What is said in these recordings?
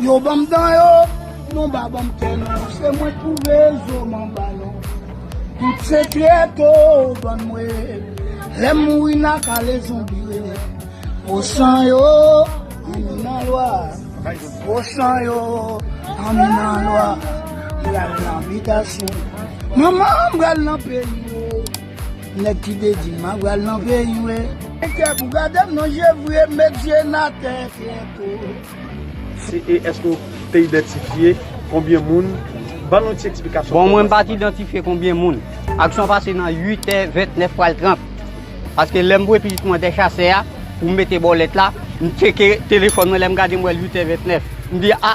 Yo banm dan yo, nou ba banm kè nou Se mwen k pou rezo m anba nou Tout sekrè to ban mwen Lè m mouri n a kale zonbi rele Gwo san yo, anmi nan lwa Gwo san yo, anmi nan lwa M pral nan bitasyon Manman m pral nan peyi yo Nèg ki dedye map ral nan peyi w e. Kè pou gadem nan je vre met je n atè kè pou. Se e eske ou te idantifye konbyen moun ban nou ti eksplikasyon. Bon mwen m pa t idantifye konbyen moun aksyon pase nan 8 è 29 pral 30 paske lè m voye pitit mwen dè chasè a pou m mete bòlèt la m tcheke telefòn mwen lè m gade m wè l 8 è 29 m di a.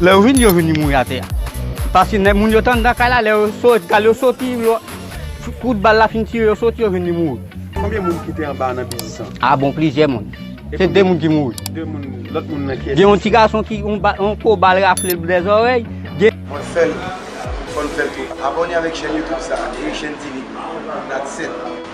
Lè yo vini, yo vini mouri atè a. Paske nèg moun yo te anndan kay la, lè yo sot, kal yo soti, yo, kout bal la fin tire yo soti, yo vini mouri. Konbyen moun ki te anba nan biznis lan? A bon plizyè moun. Se 2 moun ki mouri. 2 moun, lòt moun nan kiyès? Gen yon ti gason ki, yon ba, yon kou bal rafle l bè zòrèy, gen. Mwen fèl, fòn fèl tou. Abone avèk chèn YouTube sa, Eyishèn TV, That's it.